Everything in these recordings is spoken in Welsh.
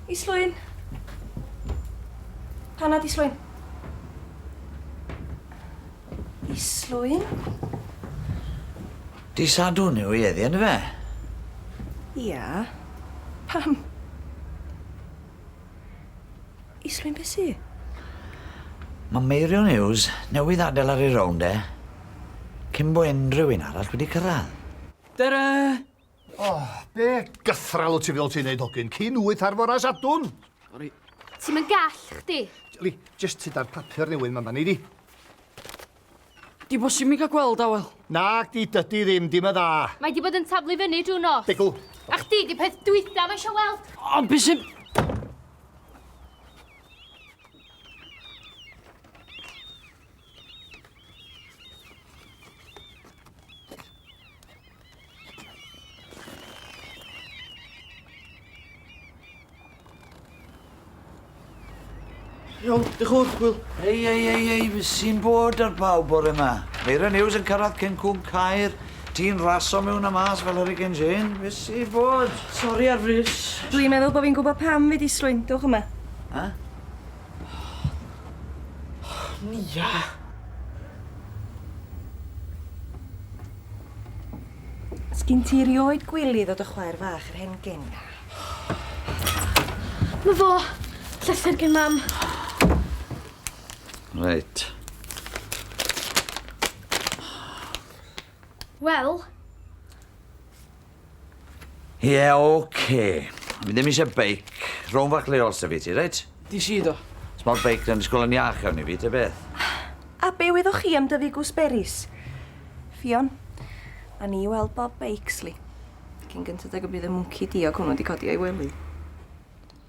Islwyn. Panad Islwyn. Islwyn. Di sadwn yw i eddi yn fe? Ia. Pam? Islwyn be' sy? Ma' Meirion Hughes newydd adel ar ei rownd e, cyn bo unrhyw un arall wedi cyrradd. Tara! O, be' gythral wt ti feddwl ti'n neud hogyn, cyn wyth ar fora Sadwrn? Sori. Ti'm yn gall, chdi. Yli, jyst tuda'r papur newydd ma' ma' nei di. Di bod sy'n mi gael gweld awel. Nag di, dydy ddim, dim y dda. Mae di bod yn taflu fyny drwy nos. Degw. A chdi di peth dwytha mae eisiau weld. Ond beth sy'n... Iawn, diolch yn fawr, Wil. Ei, ei, ei, ei, fy sy'n bod ar bawb bore yma. Meira News yn cyrraedd cyn cwm Caer. Ti'n raso mewn a mas fel Hurricane Jane. Fy sy'n bod. Sori ar frys. Dwi'n meddwl bod fi'n gwybod pam fi di slwyn. Dewch yma. Ha? Nia. Sgin ti rioed gwylio ddod o chwaer fach yr hen gyn? Na fo! Llythyr gin mam. Reit. Wel, Ie, oce. Fi ddim eisiau beic. Rhow'n fach leol sy fi ti, reit? Dis i do. Os mor beic yn ysgol yn iach iawn i fi, ta beth. A be wyddoch chi am dyfu gwsberis? Ffion, a ni weld bob beic, sli. Cyn gynted ag y bydd y mwnci diog hwnnw di codi o'i wely.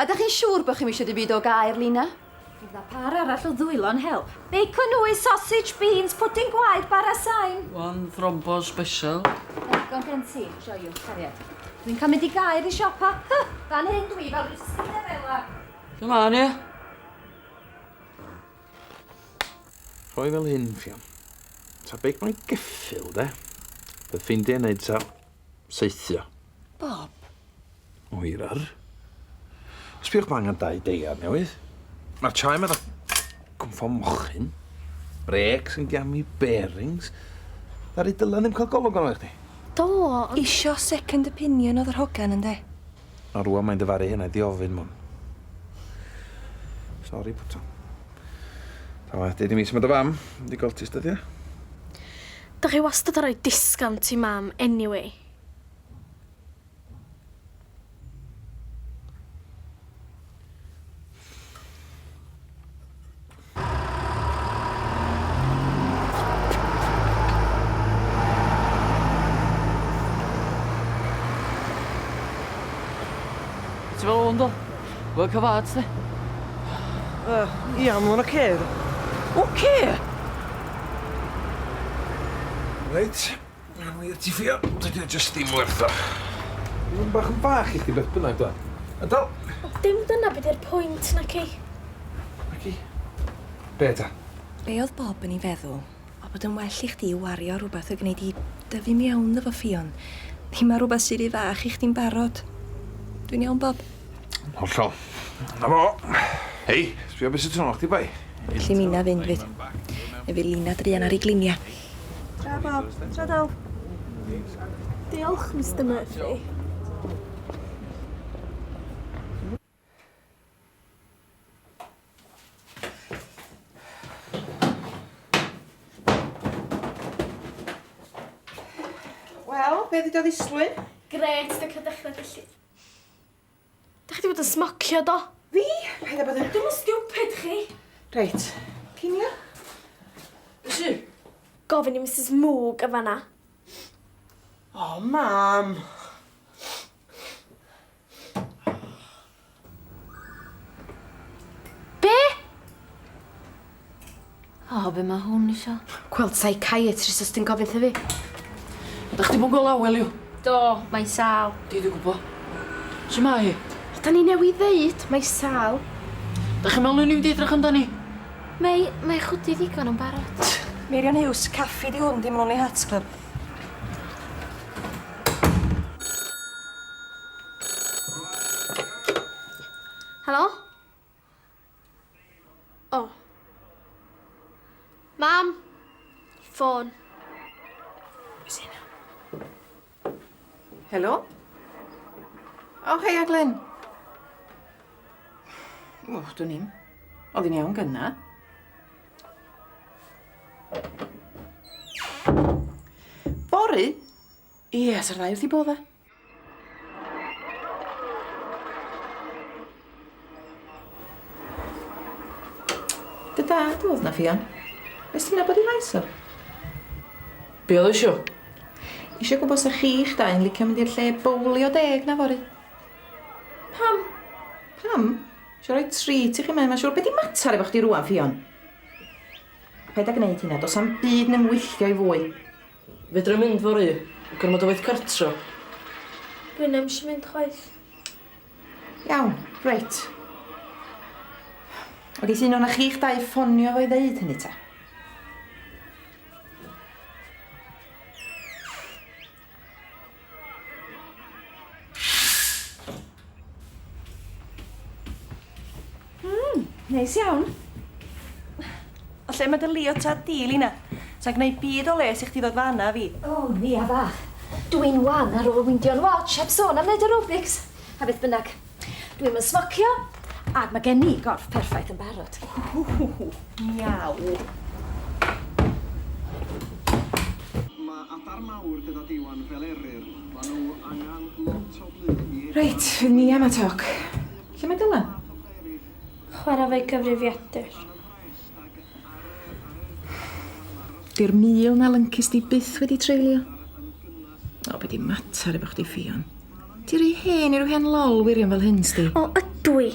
Ydych chi'n siŵr bod chi'm eisiau dim byd o gair, Lina? Fydd 'na pâr arall o ddwylo'n help. Bacon nwy, sausage, beans, pwdin gwaed, bara sain. One thrombo special. Digon gen ti, joiwch, cariad. Dwi'n cael mynd i gair i siopa. Hy, fan hyn dwi fel rhyw Cinderella. Come on, ie? Rhoi fel hyn, Ffion. Ta beic mae'n geffyl, de? Fe ffeindia i neud ta. saethio. Bob. Oerar. Sbïwch ma' angen dau deiar newydd. Ma'r chime ma' fatha cwmffon mochyn. Brêcs yn giami, bearings. Ddaru Dylan ddim ca'l golwg arno fe i chdi? Do ond... Isio second opinion odd yr hogan ynde? A rŵan mae'n dyfaru hynna i di ofyn mwn. Sori puto. Pan aeth deud i mi su' ma' dy fam, mynd i goltist ydi e? Dach chi wastad yn rhoi discount i mam anyway. Ti fel 'a yndo? Work of art, de? Yy, ia, ma' hwnna'n ocê, ddo. Ocê? Reit, awn ni ati ffio, dydi o jyst dim werth o. Mae hwn bach yn fach i chdi beth bynnag, do? A do? Ond dim dyna be' 'di'r pwynt, naci? Naci? Be' ta? Be' o'dd Bob yn 'i feddwl? A bod yn well i chdi wario ar rwbath a gneud i dyfu'n iawn ddo fo Ffion. Dim ar rwbath sy ry fach i chdi'n barod. Dwi'n iawn Bob? Hollol. 'Na fo. Hei, sbia be' sy tu nôl chdi boi. Elli minna fynd fyth. Ne fydd Lina druan ar ei glinia. Tara Bob. Tara Del. Diolch Mister Murphy. Wel, be ddi do ddisgwyl? Gret, fe cael dechrau felly. Da chi wedi bod yn smocio do? Fi? Paid a bod yn... Dim yn stupid chi. Reit, cinio? Ysu? Gofyn i Mrs Moog yn fanna. O, mam. Be? O, be mae hwn isio? Gweld psychiatrist os ti'n gofyn fi. Da chdi bod gweld awel yw? Do, mae'n sal. Di di gwybod. Sut mae hi? O, da ni newydd ddeud, mae sal. Da chi'n meddwl ni'n mynd i edrych amdani? Mae, mae chwdi ddigon yn barod. Meirion Hughes, caffi di hwn, dim Lonely Hearts Club. Helo? O. Oh. Mam. Ffôn. Helo? O, oh, hei, Aglen. O, oh, dwi'n i'n. Oedd hi'n iawn gynna. Bori? Ie, sa'r ddau wrth i bodda. Dy dad oedd na Ffion? Nes ti'n nabod i faes o? Be oedd o isio? Isio gwybod sa chi'ch dau yn licio mynd i'r lle bowlio deg na fory. Pam? Pam? Isio rhoi treat i chi mae mae'n siŵr. Be di mater efo chdi rwan, Ffion? Paid â gwneud hynna, dos am byd neu ngwylltio i fwy. Fedra i mynd fory? Gormod o waith cartra. Dwin ddim isio mynd chwaith. Iawn, reit. Wel geith un o'na chi'ch dau ffonio fo i ddeud hynny ta. Mmm, neis iawn. O lle ma dy leotard di, Lina? Sa'n gneud byd o les i chdi ddod fan'na â fi. O, Nia fach, dw i'n wan ar ôl windio'n watsh, heb sôn am neud aerobics, a beth bynnag. Dwi'm yn smocio, ac mae gen i gorff perffaith yn barod. Ww, miaw. Mae adar mawr gyda diwan fel eryr. Mae nhw angen lot o flu i edrych... Reit, fydd Mia ma toc. Lle mae Dylan? Chwarae efo'i gyfrifiadur. Di'r mil na lyncis di byth wedi treulio. O, be di mater efo chdi Ffion? Di rhy hen i rw hen lol wirion fel hyn sdi. O, ydw i.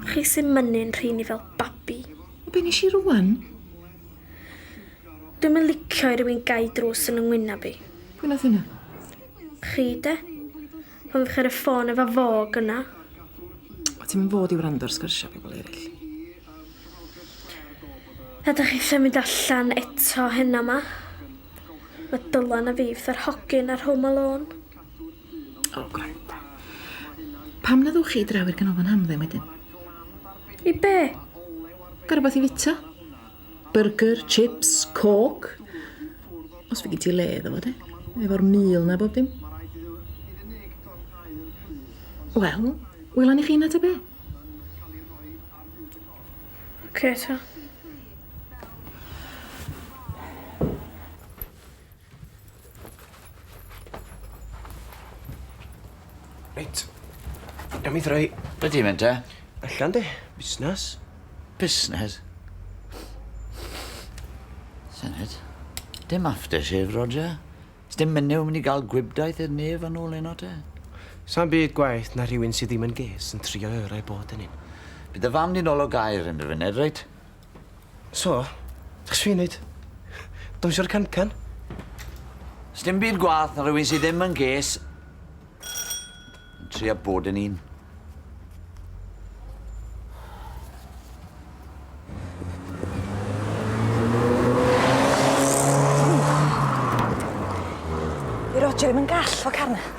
Chi sy'n mynnu'n rheini fel babi. O, be nes i rwan? Dwi'm yn licio i rywun gau drws yn yng ngwynab i. Pwy nath hynna? Chi de. Pan ddech chi ar y ffôn efo fo gyna. O ti'm yn fod i wrando ar sgyrsia pobl eryll. A dych chi eisiau mynd allan eto heno ma? Mae Dylan a fi fatha'r hogyn ar Home Alone. O gwranda. Pam na ddewch chi i draw i'r ganolfan hamdden wedyn? I be? Ga' rwbath i fita? Byrgyr, chips, coke. Os fy' gen ti le iddo fo de. Efo'r mil 'na bob dim. Wel, wela ni chi 'na ta be'? Oce ta. Reit. Iawn i ddreu. Be di'n mynd te? Allan de. Busnes. Busnes? Sened. Dim aftershave, Roger. Sdim menyw yn mynd i gael gwibdaith i'r nef yn ôl heno te. Sa'n byd gwaith na rhywun sydd ddim yn ges yn trio yrau bod yn un. Bydd y fam ni'n ôl o gair yn y funud, reit? So? Be' sw i'n neud? Dawnsio ar y can-can? Sdim byd gwath na rhywun sy ddim yn ges yn trio bod yn un. Di Roger ddim yn gall fo Karen.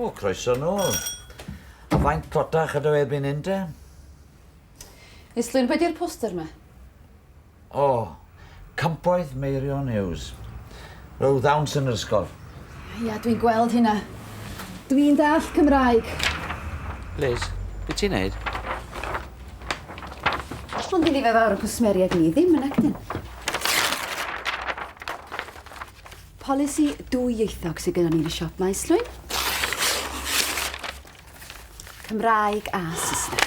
O, croeso nôl. A faint tlotach ydw erbyn hyn te? Is Lynn wedi'r poster 'ma? O! Campoedd Meirionnews. Roedd ddawns yn yr ysgol. Ia, dwi'n gweld hynna. Dwi'n dallt Cymraeg. Liz, be ti'n neud? Ond i ni fe fawr o cwsmeriaid ni ddim yn actin. Polisi dwyieithog sydd gyda ni yn y siop maes llwyn. Cymraeg a Saesneg.